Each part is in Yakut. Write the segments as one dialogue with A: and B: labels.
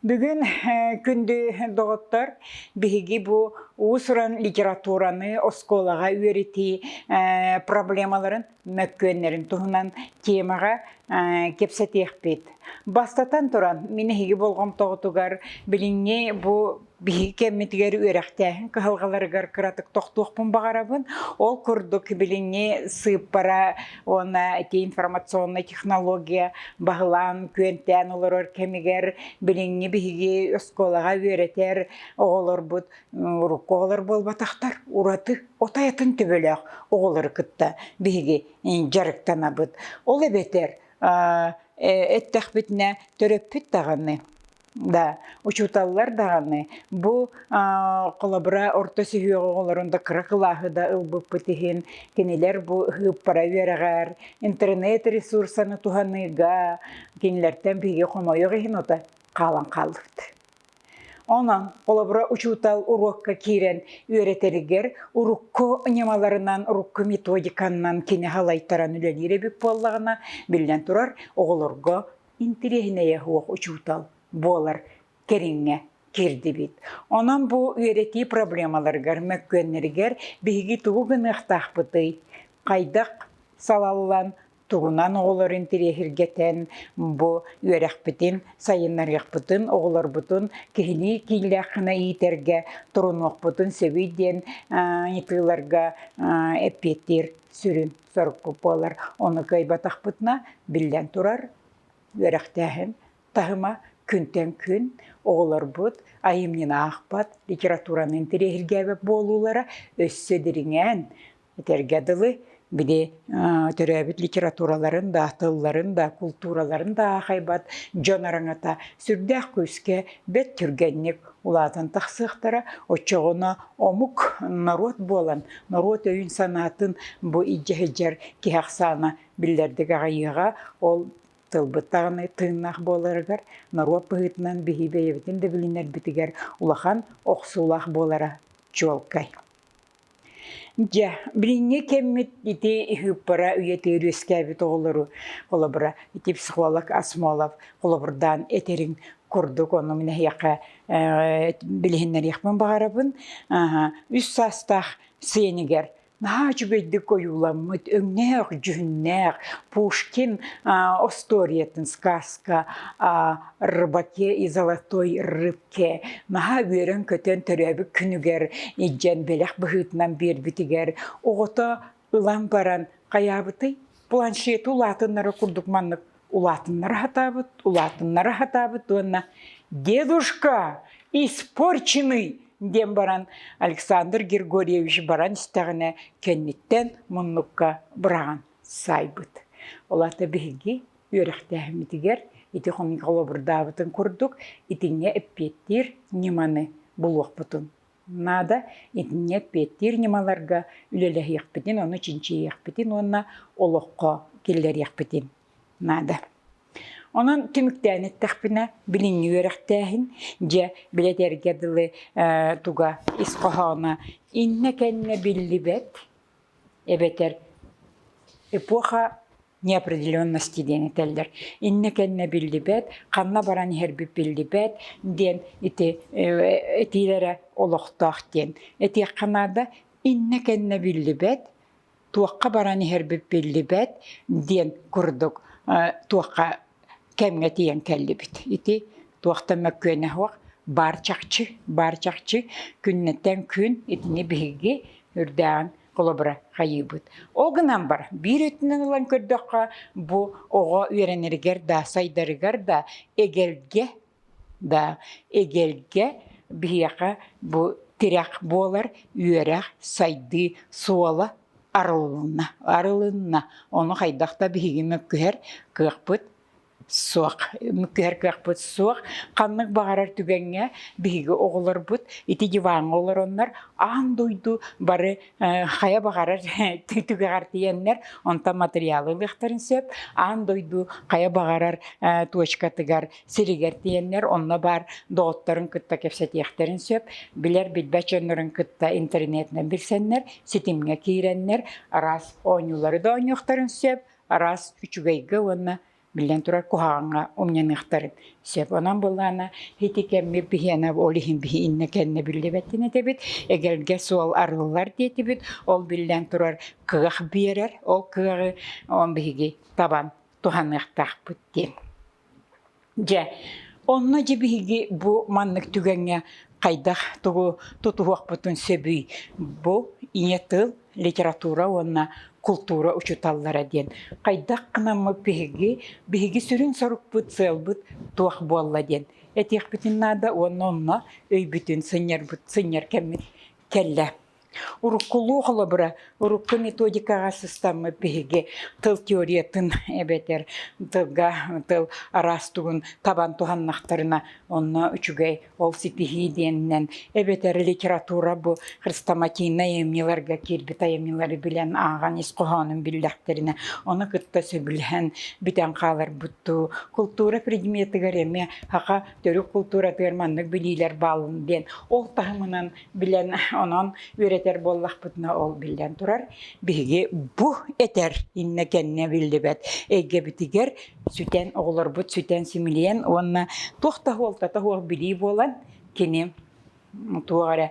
A: Бүгүн күндү доҕоттор, биһиги бу уус-уран литератураны оскуолаҕа үөрэтии проблемаларын мөккүөннэрин туһунан темаҕа кэпсэтиэхпит. Бастатан туран, мин эһиги болҕомтоҕутугар билиҥҥи бу биһиги кэммитигэр үөрэхтээһин кыһалҕаларыгар кыратык тохтуохпун баҕарабын. Ол курдук билиҥҥи сыыппара уонна эти информационнай технология баһылаан күөнтээн олорор кэмигэр билиҥҥи биһиги оскуолаҕа үөрэтэр оҕолорбут урукку оҕолор буолбатахтар ураты от айатын төбөлөөх оҕолору кытта биһиги дьарыктанабыт. Ол эбэтэр эттэхпитинэ төрөппүт даҕаны Да, учууталлар даҕаны бу а, холобура орто сүһүөҕү оҕолорун да кыра кылааһы да ылбыппыт иһин кинилэр бу ыһыаппара үөрэҕэр интернет ресурсаны туһаныыга кинилэртэн биһиги хомойох иһин ото хаалан хаалбыт. Онон холобура учуутал уруокка киирэн үөрэтэригэр урукку ньымаларынан, урукку методиканнан кини халайтаран үлэлиир эбит буоллаҕына, биллэн турар, оҕолорго интириэһинэйэ суох учуутал буолар кэриҥэ киирдибит. Онон бу үөрэтии проблемаларыгар, мөккүөннэригэр биһиги тугу гыныахтаахпытый, хайдах салаллан, тугунан оҕолору интириэһиргэтэн бу үөрэхпитин сайыннарыахпытын, оҕолорбутун киһилии киинлээххинэ иитэргэ турунуохпутун сөбүй диэн ыйытыыларга эппиэттиир сүрүн сорукку буолар. Ону кыайбатахпытына, биллэн турар, үөрэхтээһин таһыма күнтэн күн оҕолорбут айымньыны аахпат литератураны интэриэһиргээбэт буолуулара өссө дириҥээн этэргэ дылы били төрөөбүт литератураларын да тылларын да култуураларын да аахайбат дьон араҥата сүрдээх күүскэ бэрт түргэнник улаатан тахсыахтара. Оччоҕуна омук, норуот буолан, норуот өйүн-санаатын бу илдьэ киһи ахсаана биллэрдик аҕыйыаҕа. Ол тылбыт даҕаны тыыннаах буоларыгар, норуот быһыытынан биһии бэйэбитин да билинэрбитигэр улахан охсуулаах буолара чуолкай. Дьэ, билиҥҥи кэммит ити ыһыаппара үйэтигэр үөскээбит оҕолору, холобура, ити психолог Асмолов холобурдаан этэриҥ курдук, ону мин эһиэхэ э, билиһиннэриэхпин баҕарабын. Аһа, үс саастаах сиэнигэр наһаа үчүгэйдик ойууламмыт, өҥнөөх, дьүһүннээх Пушкин а, остуориятын сказка о рыбаке и золотой рыбке Кэ наһаа үөрэн-көтөн төрөөбүт күнүгэр илдьэн бэлэх быһыытынан биэрбитигэр оҕото ылан баран хайаабытый планшеты улаатыннара курдук маннык улаатыннара сатаабыт улаатыннара сатаабыт уонна дедушка испорченный диэн баран Александр Григорьевич баран истэҕинэ кэнниттэн муннукка быраҕан саайбыт. Ол аата биһиги үөрэхтээһиммитигэр ити хомуйга холобурдаабытын курдук, итинҥэ эппиэттиир ньыманы булуохпутун наада. Итиннэ эппиэттиир ньымаларга үлэлэһиэхпитин, ону чинчийиэхпитин уонна олоххо киллэриэхпитин наада. Онон түмүктээн эттэхпинэ, билиҥҥи үөрэхтээһин, дьэ, билэтэргэ дылы э, туга ис хоһооно иннэ-кэннэ биллибэт эбэтэр эпоха неопределенности диэн этэллэр. Иннэ-кэннэ биллибэт, ханна баран иһэрбит биллибэт диэн ити этиилэрэ олохтоох диэн. Этиэххэ наада иннэ-кэннэ биллибэт, туохха баран иһэрбит биллибэт диэн курдук туохха кэмҥэ тиийэн кэллибит. Ити туохта мөккүөнэһиэх баар чахчы, баар чахчы күннэтэн күн итини биһиги үрдээн холобура хайыыбыт. Ол гынан бар биир өттүнэн ылан көрдөххө бу оҕо үөрэнэригэр да сайдарыгар да эгэлгэ Да эгэлгэ биһиэхэ бу тирэх буолар үөрэх сайдыы суола арылынна арылынна ону хайдах да биһиги мөккүһэр кыахпыт суох мөккүһэр кыахпыт суох ханнык баҕарар түгэҥҥэ биһиги оҕолорбут ити диваҥҥа олороннор аан дойду бары хайа баҕарар түгэҕэр тиийэннэр онтон материалы ылыахтарын сөп аан дойду хайа баҕарар точкатыгар сиригэр тиийэннэр онно баар доҕотторун кытта кэпсэтиэхтэрин сөп, билэр-билбэт дьоннорун кытта интернетинэн билсэннэр, ситимҥэ киирэннэр араас оонньуулары да оонньуохтарын сөп, араас үчүгэйгэ уонна биллэн турар куһаҕаҥҥа умньаныахтарын сөп. Онон былаана ити кэммит биһиэнэ ол иһин биһи иннэ-кэннэ биллибэттин этэбит. Эгэлгэ суол арыллар диэтибит. Ол биллэн турар кыах биэрэр. Ол кыаҕы он биһиги табан туһаныахтаахпыт диэн. Дьэ, онно дьэ биһиги бу маннык түгэҥҥэ хайдах тугу тутуһуохпутун сөбүй? Бу ийэ тыл, литература уонна култуура учууталлара диэн хайдах гынаммыт биһиги, биһиги сүрүн сорукпут, сыалбыт туох буолла диэн этиэхпитин наада уонна онно өйбүтүн сынньарбыт, сынньар кэммит кэллэ. Уруккулуу холобура, урукку методикаҕа сыстаммыт биһиги тыл теориятын эбэтэр тылга тыл араас тугун табан туһаннахтарына онно үчүгэй ол ситиһии диэнинэн эбэтэр литература бу хрестоматийнай айымньыларга киирбит айымньылары билэн ааҕан ис хоһоонун биллэхтэринэ ону кытта сөбүлэһэн бүтэн хааларбыттуу култуура предметыгар эмиэ саха төрүт култууратыгар маннык билиилэр бааллын диэн ол таһымынан билэн онон үөрэтэр буоллахпытына ол биллэн турар биһиги бу этэр иннэ кэннэ биллибэт эйгэбитигэр сүтэн оҕолорбут сүтэн симилийэн уонна туох да уолтата суох билии буолан кини туох эрэ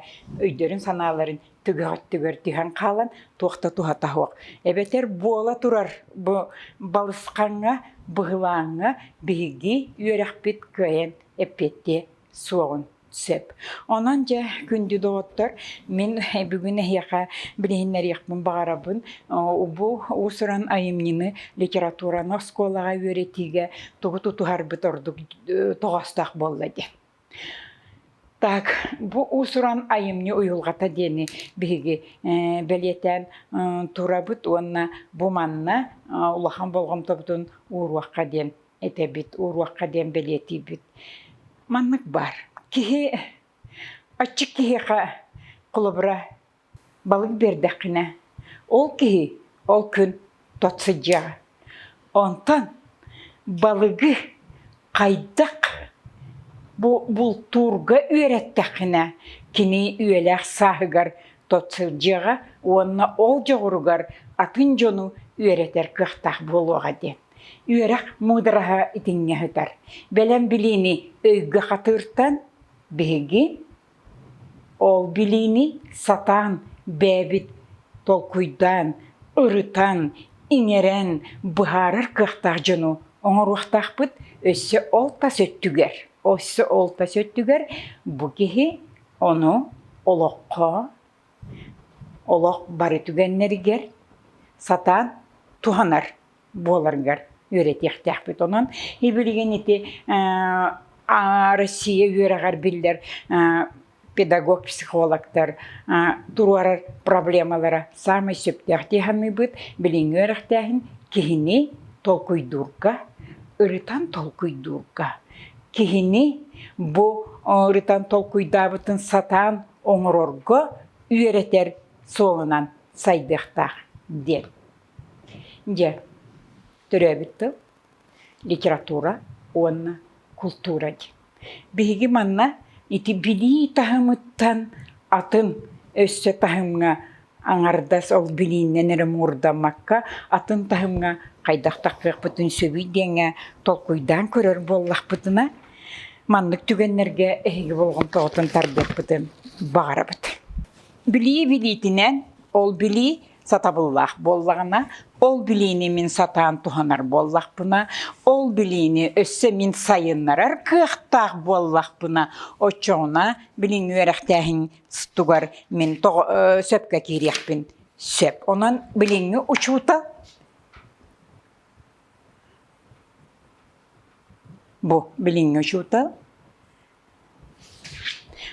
A: өйдөрүн санааларын түгэх өттүгэр түһэн хаалан туох да туһата суох эбэтэр буола турар бу балысхаҥҥа быһылааҥҥа биһиги үөрэхпит кыайан эппиэттиэ суоҕун Сөп. Онон дьэ күндү доҕоттор, мин бүгүн эһиэхэ билиһиннэриэхпин баҕарабын. О, бу уус-уран айымньыны литератураны оскуолаҕа үөрэтиигэ тугу тутуһарбыт ордук э, тоҕоостоох буолла дии. Так, бу уус-уран айымньы уйулҕата диэни биһиги э, бэлиэтээн э, турабыт уонна бу манна э, улахан болҕомтобутун ууруохха диэн этэбит, уруокка диэн бэлиэтиибит. Маннык баар. Киһи, аччык киһиэхэ холобура балык биэрдэххинэ, ол киһи ол күн тот сыдьыаҕа. Онтон балыгы хайдах бултуурга үөрэттэххинэ, кини үйэлээх сааһыгар тот сылдьыаҕа уонна ол дьоҕуругар атын дьону үөрэтэр кыахтаах буолуоҕа диэн. Үөрэх муудараһа итиннэ сытар. Бэлэм билиини өйгө хатыыртан биһиги ол билиини сатаан бэйэбит толкуйдаан, ырытан, иҥэрэн быһаарар кыахтаах дьону оҥоруохтаахпыт. Өссө ол тас өттүгэр, өссө ол тас өттүгэр бу киһи ону олоххо, олох бары түгэннэригэр сатаан туһанар буоларгар үөрэтиэхтээхпит. Онон и-билигин ити Россия үөрэҕэр биллэр педагог, психологтар туруорар проблемалара саамай сөптөөх дии саныыбыт. Билиҥҥи үөрэхтээһин киһини толкуйдуурга, ырытан толкуйдуурга, киһини бу ырытан толкуйдаабытын сатаан оҥорорго үөрэтэр суолунан сайдыахтаах диэн. Дьэ, төрөөбүт тыл, литература уонна култуура дии. Биһиги манна ити билии таһымыттан атын өссө таһымҥа аҥардас ол билииннэн эрэ муурдаммакка атын таһымҥа хайдах тахсыахпытын сөбүй диэҥҥэ толкуйдаан көрөр буоллахпытына, маннык түгэннэргэ эһиги болҕомтоҕутун тардыахпытын баҕарабыт. Билии билиитинэн, ол билии сатабыллаах буоллаҕына, ол билиини мин сатаан туһанар буоллахпына, ол билиини өссө мин сайыннарар кыахтаах буоллахпына, оччоҕуна билиҥ үөрэхтээһиҥтугар мин тоҕо сөпкө киириэхпин сөп. Онон билиҥҥи учуутал бу билиҥҥи учуутал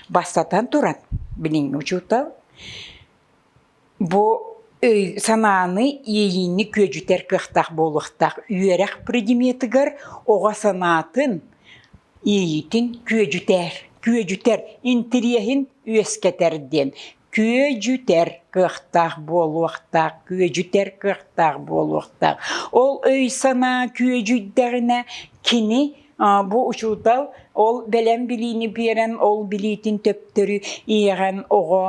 A: Бастатан туран, билиҥҥи учуутал бу санааны иэйиини күөдьүтэр кыахтаах буолуохтаах үөрэх предметыгар оҕо санаатын иэйиитин күөдьүтэр, күөдьүтэр, интириэһин үөскэтэр диэн. Күөдьүтэр кыахтаах буолуохтаах, күөдьүтэр кыахтаах буолуохтаах. Ол өй-санаа күөдьүйдэҕинэ кини бу учуутал ол бэлэм билиини биэрэн ол билиитин төптөрү иэҕэн оҕо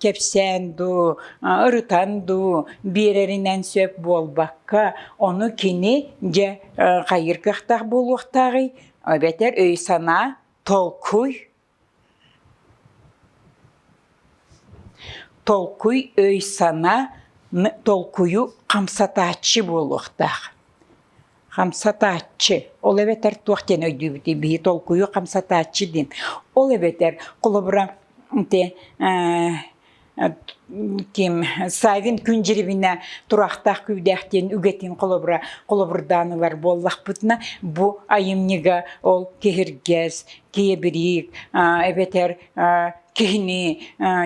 A: кэпсээн дуу, ырытан дуу биэрэринэн сөп буолбакка ону кини дьэ хайыыр кыахтаах буолуохтааҕый эбэтэр өй-санаа толкуй Толкуй өй-санаа толкуйу хамсатааччы буолуохтаах. Хамсатааччы, ол эбэтэр туох диэн өйдүүбүтүй биһи толкуйу хамсатааччы диэн. Ол эбэтэр холобура ити тим сайдын күн дьирибинэ турахтаах күүдэх диэн үгэтин холобура холобурдаан ылар буоллахпытына бу айымньыга ол киһиргэс киэбириик эбэтэр киһини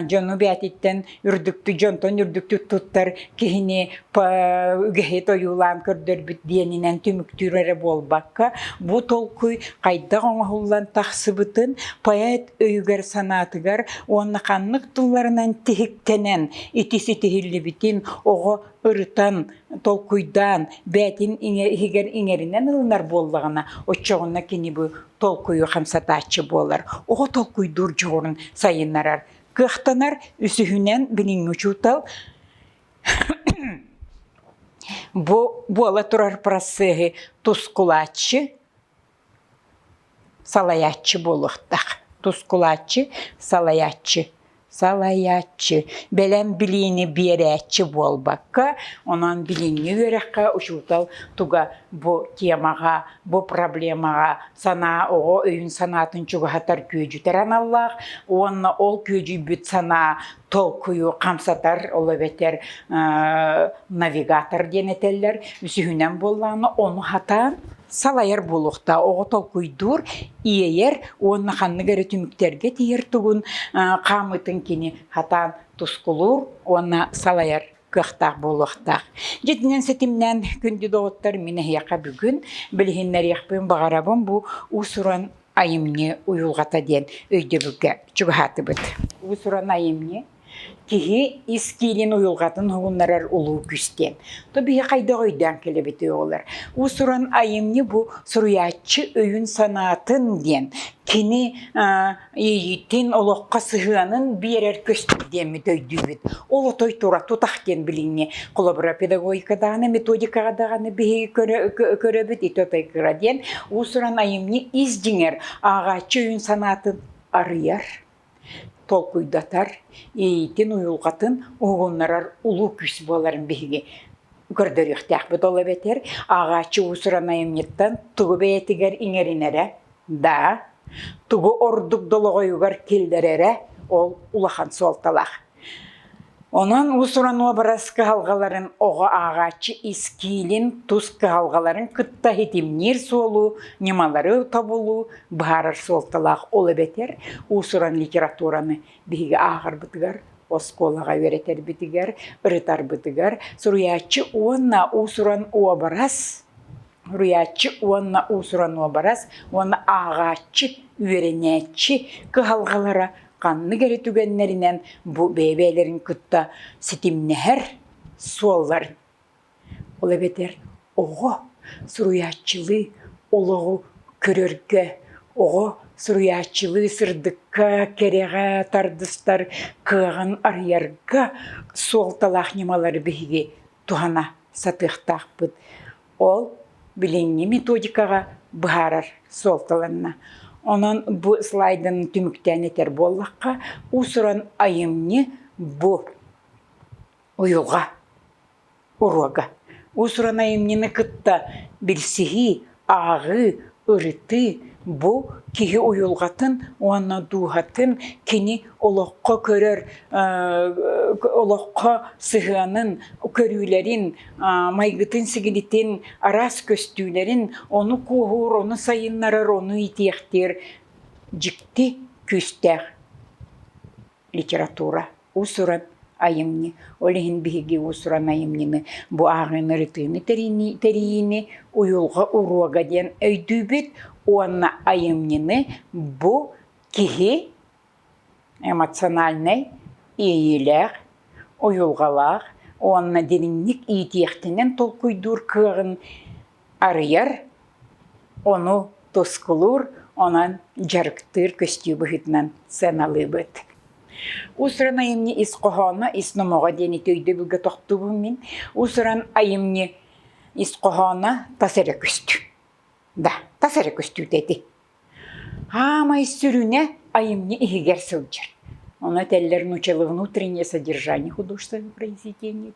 A: дьону бээтиттэн үрдүктү дьонтон үрдүктү туттар киһини үгэһит ойуулаан көрдөрбүт диэнинэн түмүктүүр эрэ буолбакка бу толкуй хайдах оҥоһуллан тахсыбытын поэт өйүгэр-санаатыгар уонна ханнык тылларынан тиһиктэнэн ити ситиһиллибитин оҕо ырытан, толкуйдаан, бээтин иһигэр иҥэринэн ылынар буоллаҕына, оччоҕуна кини бу толкуйу хамсатааччы буолар. Оҕо толкуйдуур дьоҕурун сайыннарар. Кыахтанар үсүһүнэн билиҥҥи учуутал бу буола турар процеһы тускулааччы, салайааччы буолуохтаах тускулааччы салайааччы салайааччы бэлэм билиини биэрээччи буолбакка онон билиҥҥи үөрэххэ учуутал туга бу темаҕа бу проблемаҕа санаа оҕо өйүн санаатын чугаһатар күөдьүтэр аналлаах уонна ол күөдьүйбүт санаа толкуйу хамсатар, ол эбэтэр навигатор диэн этэллэр, үсүһүнэн буоллаҕына ону хатаан салайар буолуохтаах оҕо толкуйдуур иэйэр уонна ханнык эрэ түмүктэргэ тиийэр тугун хаамытын кини хатаан тускулуур уонна салайар кыахтаах буолуохтаах. Дьитинэн ситимнээн күндү доҕоттор, мин эһиэхэ бүгүн билиһиннэриэхпин баҕарабын бу уус-уран айымньы уйулҕата диэн өйдөбүлгэ чугаһаатыбыт. Уус-уран айымньы киһи ис киинин уйулҕатын уһугуннарар улуу күс диэн. То биһи хайдах өйдөөн кэлэбитий оҕолор? Уус-уран айымньы бу суруйааччы өйүн-санаатын диэн кини иэйиитин, олоххо сыһыанын биэрэр көстүү диэммит өйдүүбүт. Ол отой тура тутах диэн билиҥҥи холобура педагогикадааны методикаҕа даҕаны биһиги көрөбүт ити отайгыра диэн уусуран айымньы ис дьиҥэр ааҕааччы өйүн санаатын арыйар толкуйдатар иитин уйулҕатын уһугуннарар улуу күүс буоларын биһиги көрдөрүөхтээхпит ол эбэтэр ааҕааччы уусуран айымньыттан тугу бэйэтигэр иҥэринэрэ да тугу ордук долоҕойугар киллэрэрэ ол улахан суолталаах Онон уус-уран уобарас кыһалҕаларын оҕо ааҕааччы искиилин, тус кыһалҕаларын кытта ситимниир суолу, ньымалары тобулуу быһаарар суолталаах ол эбэтэр уус-уран литератураны биһиги ааҕарбытыгар, оскуолаҕа үөрэтэрбитигэр, ырытарбытыгар суруйааччы уонна уус-уран уобарас Суруйааччы уонна уусуран уобарас уонна ааҕааччы, үөрэнээччи кыһалҕалара ханнык эрэ түгэннэринэн бу бэйэ-бэйэлэрин кытта ситимнэһэр суолларын, ол эбэтэр оҕо суруйааччылыы олоҕу көрөргө, оҕо суруйааччылыы сырдыкка, кэрэҕэ тардыстар кыаҕын арыйарга суолталаах ньымалары биһиги туһана сатыахтаахпыт. Ол билиҥҥи методикаҕа быһаарар суолталанна. Онон бу слайданы түмүктээн этэр буоллахха, уусуран айымньы бу уйуга, уруога. Уусуран айымньыны кытта билсиһии Ааҕыы, ырытыы – бу киһи уйулҕатын уонна дууһатын кини олоххо көрөр, олоххо сыһыанын, көрүүлэрин, майгытын-сигилитин, араас көстүүлэрин, ону кууһуур, ону сайыннарар, ону иитиэхтиир дьикти күүстээх. литература, уус-уран айымньы, ол иһин биһиги уус-уран айымньыны, бу ааҕыыны, ырытыыны тэрийини, тэрийиини уйулҕа уруога диэн өйдүүбүт уонна айымньыны бу киһи эмоциональнай иэйиилээх, уйулҕалаах уонна дириҥник иитиэхтэнэн толкуйдуур кыаҕын арыйар, ону тускулуур, онон дьарыктыыр көстүү быһыытынан сыаналыыбыт. Усран айымньы ис хоһооно, ис номоҕо диэни өйдөбүлгэ тохтуубун мин. Усран айымньы ис хоһооно тас эрэ көстүү. Да, тас эрэ көстүүтэ ити. Хаамай сүрүнэ айымньы иһигэр сылдьар. Ону этэллэр нучело внутреннее содержание художественного произведения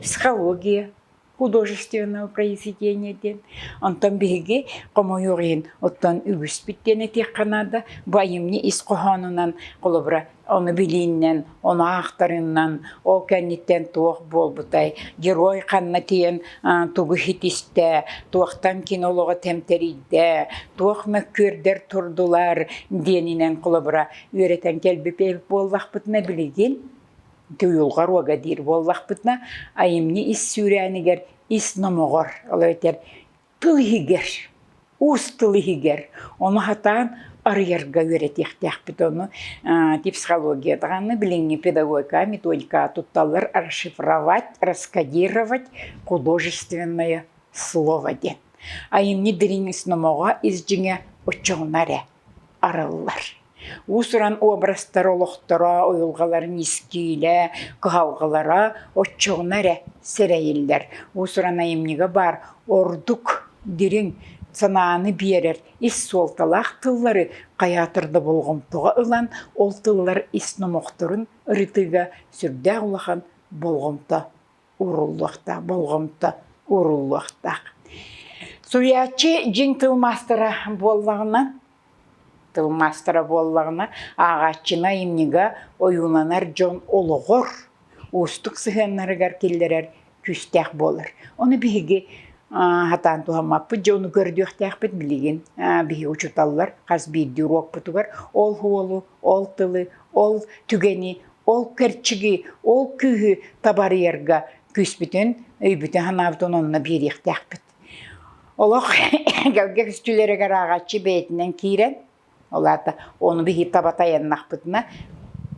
A: психология художественного произведения диэн онтон биһиги хомойуох иһин оттон үгүспүт диэн этиэххэ наада бу айымньы ис хоһоонунан холобура ону билииннэн ону аахтарыннан ол кэнниттэн туох буолбутай герой ханна тиийэн тугу ситистэ туохтан кини олоҕо тэмтэрийдэ туох мөккүөрдэр турдулар диэнинэн холобура үөрэтэн кэлбит буоллахпытына билигин Тыылга руога диир буоллахпытына, айымньы ис сүүрээнигэр ис номоҕор, ол эбэтэр тыл иһигэр, уус тыл иһигэр ону хатаан арыйарга үөрэтиэхтээхпит. Ону психология даҕаны билиҥҥи педагогика методика тутталлар расшифровать, раскодировать художественное слово диэн. Айымньы дириҥ ис номоҕо, ис дьиҥэ оччоҕуна эрэ араллар. Уус-уран образтар олохторо, уйулҕаларын искиилэ, кыһалҕалара оччоҕуна эрэ сэрэйиллэр. Уус-уран айымньыга баар ордук дириҥ санааны биэрэр ис суолталаах тыллары хайаатар да болҕомтоҕо ылан, ол тыллар ис номохторун ырытыыга сүрдээх улахан болҕомто ууруллуохтаах, болҕомто ууруллуохтаах. Суруйааччы дьиҥ тыл маастара буоллаҕына, тыл маастара буоллаҕына, ааҕааччыны айымньыга ойууланар дьон олоҕор уустук сыһыаннарыгар киллэрэр күүстээх буолар. Ону биһиги хатаан туһаммаппыт дьэ ону көрдүөхтээхпит билигин биһиги учууталлар хас биирдии уруокпутугар ол уолу, ол тылы, ол түгэни Ол кэрчиги, ол күүһү табарыйарга күүспүтүн, өйбүтүн санаабытын онно биэриэхтээхпит. Олох эгэлгэ үстүлэригэр ааҕаччы бэйэтинэн киирэн, ол аата ону биһир таба тайаннахпытына,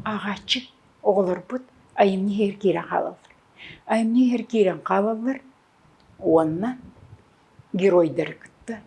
A: ааҕаччы оҕолорбут айымньы иһэр киирэн хаалаллар. Айымньы иһэр киирэн хаалаллар, уонна геройдары кытта,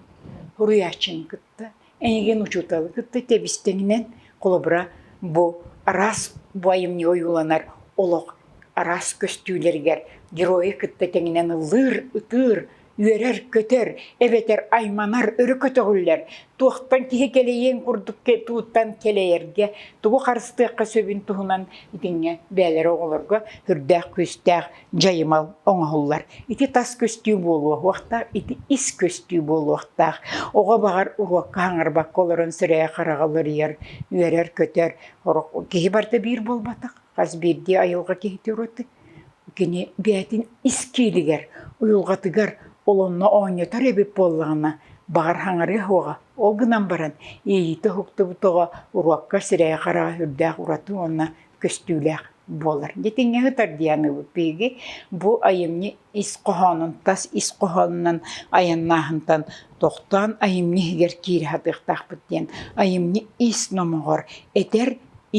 A: суруйааччыны кытта, эйигин учууталы кытта тэбистэҥинэн холобура бу араас бу айымньы ойууланар олох араас көстүүлэригэр геройу кытта тэҥинэн ыллыыр, ытыыр, үөрэр, көтөр, эбэтэр айманар өрө көтөҕүллэр, туохтан киһи кэлэйиэн курдук туттан кэлэйэргэ, тугу харыстыахха сөбүн туһунан итиннэ бэйэлэрэ оҕолорго сүрдээх күүстээх дьайымал оҥоһуллар. Ити тас көстүү буолуохтаах, ити ис көстүү буолуохтаах. Оҕо баҕар уруокка хаҥарбакка олорон сирэйэ-хараҕа уларыйар, үөрэр-көтөр. Киһи барда биир буолбатах, хас биирдии айылҕа киһитэ ураты. Кини бэйэтин ис киилигэр, уйулҕатыгар олонно оонньотор эбит буоллаҕына, баҕар хаҥарыа уоҕа. Ол гынан баран иэйиитэ уһуктубут оҕо уруокка сирэйэ-хараҕа үрдээх ураты уонна көстүүлээх. буолар. Дитиҥҥэ ытар дианыыбы пиги бу айымньы ис хоһоонун тас ис хоһоонунан айаннааһынтан тохтоон айымньы иһигэр киирэ сатыахтаахпыт диэн айымньы ис номоҕор этэр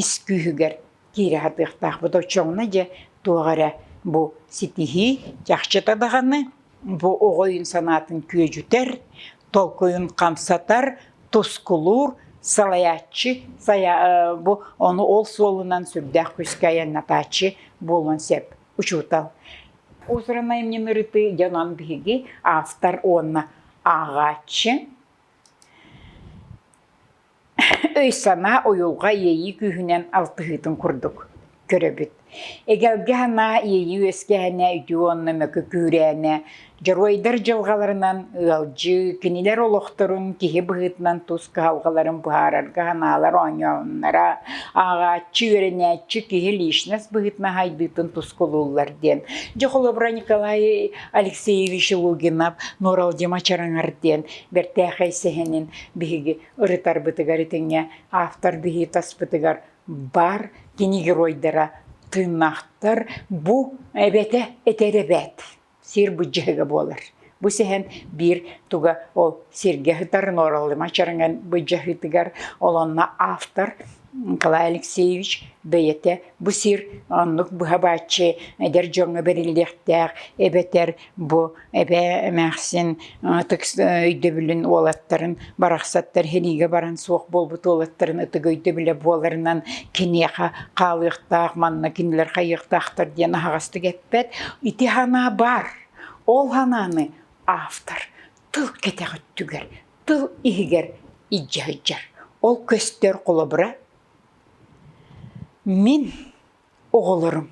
A: ис күүһүгэр киирэ сатыахтаахпыт оччоҕуна дьэ туох эрэ бу ситиһии чахчыта даҕаны бу оҕо өйүн санаатын күөдьүтэр толкуйун хамсатар, тускулуур, салайааччы, бу ону ол суолунан сүрдээх күүскэ айаннатааччы буолуон сөп учуутал. Усранай мне нарыты дьонон биһиги автор уонна ааҕааччы. Өй-санаа уйулҕа иэйии күүһүнэн алтыһыытын курдук көрөбүт. Эгэлгэ санаа иэйии үөскээнэ, үтүө уонна мөкү күүрээнэ, дьоруойдар дьылҕаларынан ыалдьыы, кинилэр олохторун киһи быһыытынан тус кыһалҕаларын быһаарарга санаалар оонньооннора, ааҕааччы, үөрэнээччи киһи личность быһыытынан сайдыытын тускулууллар диэн. Дьэ холобура Николай Алексеевич Лугинов, Нууралдима Чараҥар диэн бэртээхэй сэһэнин биһиги Ырытарбытыгар итиҥҥэ автор быһыы таспытыгар баар кини геройдара тыыннаахтар бу эбэтэ этэр эбээт сир быдьыһыга буолар. Бу сэһэн биир туга ол сиргэ сытар Нооралыма Чараҥан быдьыһытыгар, олонно автор Николай Алексеевич бэйэтэ бу сир оннук быһа-бааччы эдэр дьоҥҥо бэриллиэхтээх эбэтэр бу эбээ эмээхсин ытык өйдөбүлүн уолаттарын барахсаттар сэриигэ баран суох буолбут уолаттарын ытык өйдөбүлэ буоларынан киниэхэ хаалыахтаах манна кинилэр хайыахтаахтар диэн аһаҕастык эппэт. Ити санаа баар. Ол санааны автор Тыл кэтэх өттүгэр, тыл иһигэр илдьэ сылдьар. Ол көстөр холобура мин оҕолорум,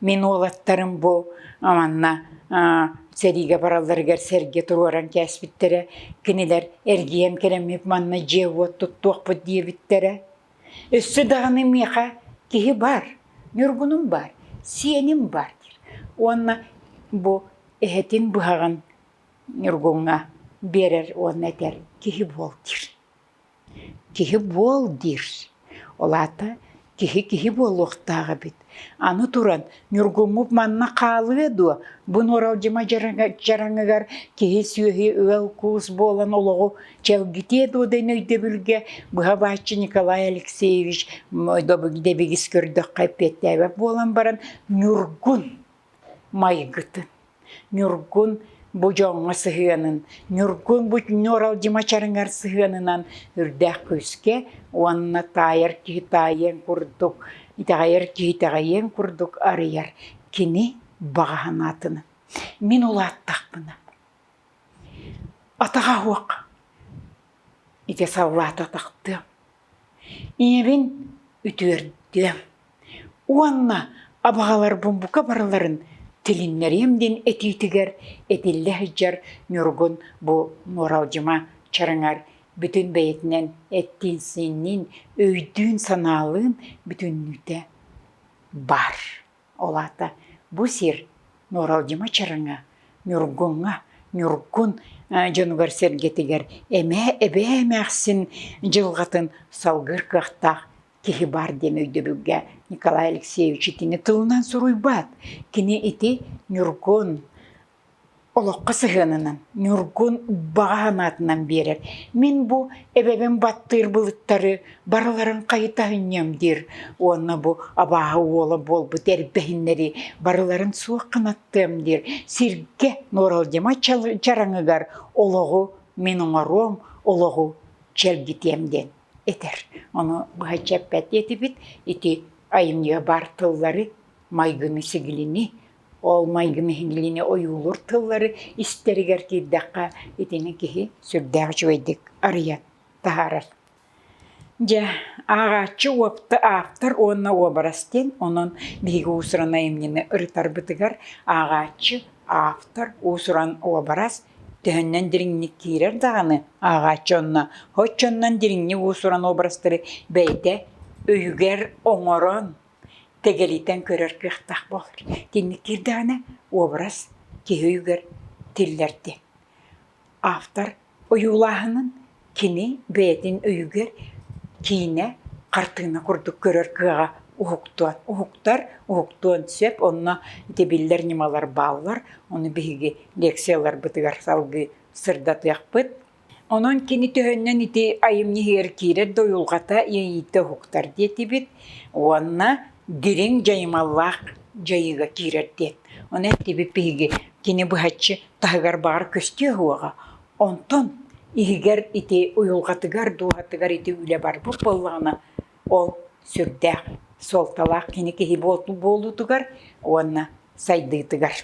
A: мин уолаттарым бу манна сэриигэ баралларыгар сэргэ туруоран кээспиттэрэ, кинилэр эргийэн кэлэммит манна дьиэ-уот туттуохпут диэбиттэрэ. Өссө даҕаны миэхэ киһи баар, Ньургунум баар, сиэним баар диир уонна бу эһэтин быһаҕын Ньургуҥҥа биэрэр уонна этэр киһи буол диир. Киһи буол диир. Ол аата киһи киһи буолуохтаах эбит. Аны туран, ньургуммут манна хаалыа дуо, бу нуоралдьыма дьараҥыгар киһи-сүөһү ыал-куус буолан олоҕу чэлгитиэ дуо диэн өйдөбүлгэ быһа-бааччы Николай Алексеевич добыгидэбигис көрдөххө эппиэттээбэт буолан баран ньургун майгытын, Ньургун бу дьоҥҥо сыһыанын, Ньургун бу Ньуралдьы Мачарыҥар сыһыанынан үрдээх күүскэ уонна таайар киһи таайыан курдук, итэҕэйэр киһи итэҕэйиэн курдук арыйар кини баҕа санаатынан. Мин улааттахпына атаҕа суох ити саллаата тахтыам. ийэбин үтүөрдүөм уонна абаҕаларбын бука барыларын тилиннэриэм диэн этиитигэр этиллэ сылдьар ньургун бу нуоралдьыма чараҥар бүтүн бэйэтинэн эттиин-сиинниин өйдүүн-санаалыын бүтүннүүтэ баар Ол аата бу сир Нуоралдьыма Чараҥа, Ньургуҥҥа, Ньургун дьонугар-сэргэтигэр эмэ эбээ эмээхсин дьылҕатын салгыыр кыахтаах киһи баар диэн өйдөбүлгэ Николай Алексеевич итини тылынан суруйбат. Кини ити Ньургун, олоххо сыһыанынан Ньургун баҕа санаатынан биэрэр «Мин бу эбэбин баттыыр былыттары барыларын хайыта аһынньыам» диир уонна бу абааһы уола буолбут эрбэһиннэри барыларын суох гынаттыам диир сиргэ Нуоралдьыма чараҥыгар олоҕу мин оҥоруом, олоҕу чэлгитиэм диэн этэр. Ону быһаччы эппэт диэтибит. Ити айымньыга баар тыллары, майгыны-сигилини Ол майгым иһиллиини ойуулуур тыллары истэригэр тиийдэххэ итини киһи сүрдээх үчүгэйдик арыйан таһаарар. Дьэ, ааҕааччы ааптар уонна уобарас диэн, онон биһиги уусуран айымньыны ырытарбытыгар ааҕааччы, автор, уусуран уобарас төһөннөн дириҥник киирэр даҕаны, ааҕааччы онно оччонон дириҥник уусуран уобарастары бэйэтэ өйүгэр оҥорон, тэгэлийтэн көрөр кыахтаах буолар итинник киирдэҕинэ уобарас киһи өйүгэр тиллэрдэ автор ойуулааһынын кини бэйэтин өйүгэр киинэ хартыына курдук көрөр кыаҕа уһуктуон уһуктар уһуктуон сөп онно ити биллэр ньымалар бааллар ону биһиги лекцияларбытыгар салгыы сырдатыахпыт Онон кини төһөннөн ити айымньыһыгар киирэр да уйулҕата иэйиитэ уһуктар диэтибит уонна дириҥ дьайымаллаах дьайыыга киирэр диэн. Ону эттибит биһиги кини быһаччы таһыгар баҕар көстүө уоҕа, онтон иһигэр ити уйулҕатыгар, дууһатыгар ити үлэ барбыт буоллаҕына ол сүрдээх суолталаах кини киһи буолуутугар уонна сайдыытыгар.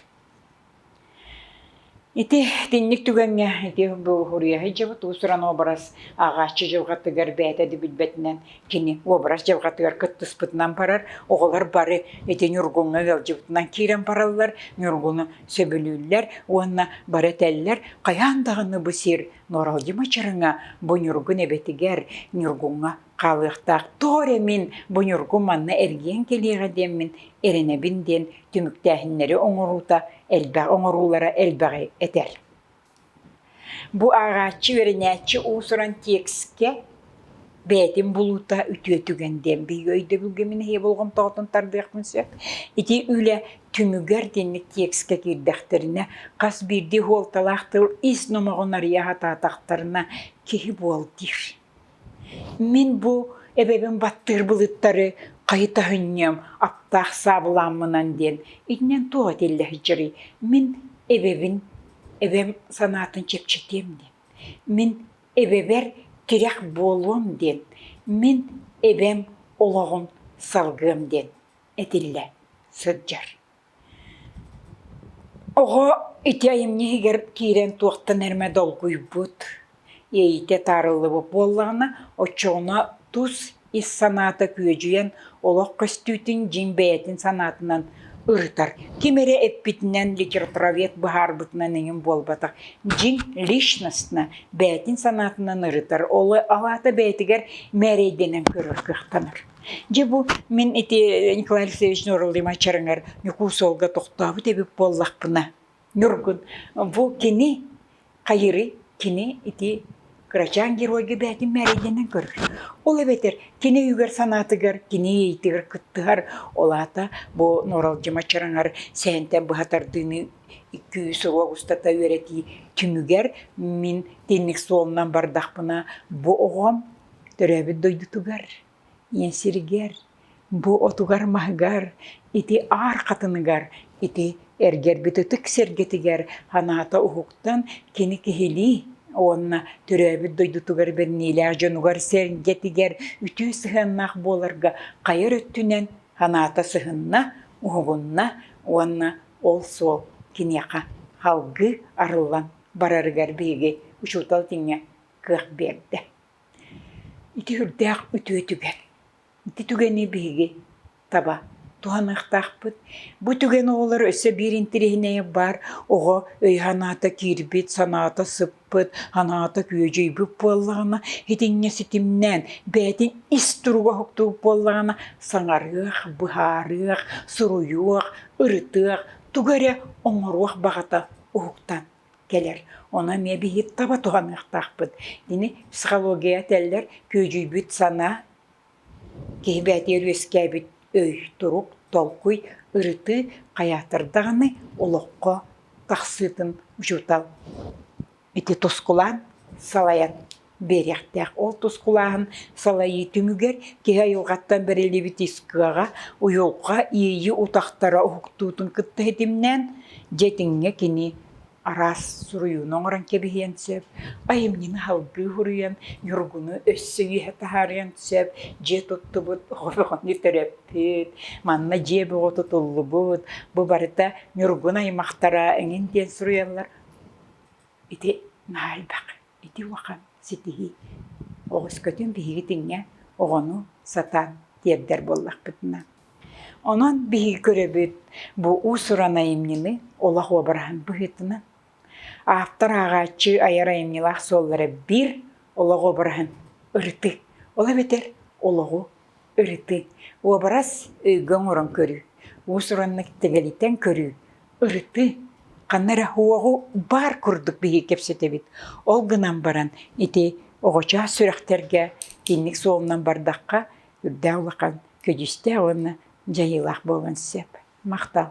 A: Ити итинник түгэҥҥэ ити буруһуруйа сылдьыбыт уус-уран уобарас ааҕааччы дьылҕатыгар бэйэтэ да билбэтинэн кини уобарас дьылҕатыгар кыттыспытынан барар, оҕолор бары ити Ньургуҥҥа ыалдьыбытынан киирэн бараллар, Ньургуну сөбүлүүллэр уонна бары этэллэр «Хайаан даҕаны бу сир Нуоралдьы Мачарыҥа бу Ньургун эбэтигэр Ньургуҥҥа хаалыахтаах тоҕо эрэ мин бу ньургу манна эргийэн кэлиэҕэ диэммин эрэнэбин диэн түмүктээһиннэри оҥоруута элбэх оҥоруулара элбэҕи этэр. Бу ааҕааччы үөрэнээччи уусуран текстке бэйэтин булуута үтүө түгэн диэн биһиги өйдөбүлгэ мин эһиэ болҕомтоҕутун тардыахпын сөп. Ити үлэ түмүгэр диэник текстке киирдэхтэринэ хас биирдии суолталаах тыл ис номоҕун арыйа сатаатахтарына киһи буол диир. Мин бу эбэбин баттыыр былыттары хайыта сынньыам, аптаах саабылааммынан диэн иннин туох этиллэ сылдьарый? Мин эбэбин, эбэм санаатын чэпчэтиэм диэн, мин эбэбэр тирэх буолуом диэн, мин эбэм олоҕун салгыам диэн этиллэ сылдьар Оҕо ити айымньы иһигэр киирэн туохтан эрэ долгуйбут, иэйиитэ таарыллыбыт буоллаҕына, оччоҕуна тус ис санаата күөдьүйэн, олох көстүүтүн дьиҥ бэйэтин санаатынан ырытар. Ким эрэ эппитинэн, литературовед быһаарбытынан эҥин буолбатах. Дьиҥ личностно бэйэтин санаатынан ырытар. Ол аата бэйэтигэр мээрэйдэнэн көрөр кыахтанар. Дьэ бу мин ити Николай Алексеевич Нураллимовичарыҥар Ньукуусуолга тохтообут эбит буоллахпына, Ньургун, бу кини Хайыры, кини ити кырачаан геройга бэйэтин мээрэйдэнэн көрөр. Ол эбэтэр кини өйүгэр-санаатыгар, кини иэйиитигэр кыттыһар. Ол аата бу Нуралдьымаччараҥар сээнтэн быһа тардыыны икки-үс сылга устата үөрэтии түмүгэр мин тинник суолунан бардахпына бу оҕом Төрөөбүт дойдутугар, ийэ сиригэр, бу отугар-маһыгар, ити аар хатыныгар, ити эргэрбит ытык сэргэтигэр санаата уһуктан кини киһилии уонна төрөөбүт дойдутугар бэлиэлээх дьонугар-сэргэтигэр үтүө сыһыаннаах буоларга хайар өттүнэн санаата сыһынна, уһугунна уонна ол суол киниэхэ салгыы арыллан барарыгар биһиги учуутал тиҥэ кыах биэрдэ. Ити үрдээх үтүөтүгэр ити түгэни биһиги таба туһаныахтаахпыт. Бу түгэн оҕолор өссө биир интириэһинэйэ баар. Оҕо өй-санаата киирбит, санаата сыппыт, санаата күөдьүйбүт буоллаҕына, итиннэ ситимнээн бэйэтин ис туруга уһуктубут буоллаҕына, саҥарыах, быһаарыах, суруйуох, ырытыах, тугу эрэ оҥоруох баҕата уһуктан кэлэр. Ону эмиэ биһи таба туһаныахтаахпыт. Ини психология этэллэр күөдьүйбүт санаа, киһи бэйэтигэр үөскээбит өй, турук, толкуй, ырытыы хайаатар даҕаны олоххо тахсыытын учуутал ити тускулаан салайан биэриэхтээх. Ол тускулааһын салайыы түмүгэр киһи айылҕаттан бэриллибит ис кыаҕа, уйулҕа иэйии утахтара уһуктуутун кытта ситимнээн, дьэ итиҥҥэ кини араас суруйууну оҥорон кэбиһиэн сөп, айымньыны салгыы суруйан, ньургуну өссө үөһэ таһаарыан сөп, дьиэ туттубут оҕону төрөппүт, манна дьиэ бөҕө тутуллубут, бу барыта ньургун аймахтара эҥин диэн суруйаллар. Ити наһаа элбэх. Ити улахан ситиһии. Оҕускутун биһиги тиҥҥэ оҕону сатаан тиэрдэр буоллахпытына. Онон биһиги көрөбүт бу уус-уран айымньыны олох уобараһын быһыытынан автор ааҕааччы айар айымньылаах суоллара биир олох уобараһын ырытыы. Ол эбэтэр олоҕу ырытыы, уобарас өйгө оҥорон көрүү, уус-ураннык тэлэлитэн көрүү, ырытыы. Ханна эрэ уоҕу баар курдук биһиги кэпсэтэбит. Ол гынан баран ити оҕочоос сүрэхтэргэ кинник суолунан бардахха үрдээх улахан көдьүүстээх уонна дьайыылаах буолуон сөп. Махтал.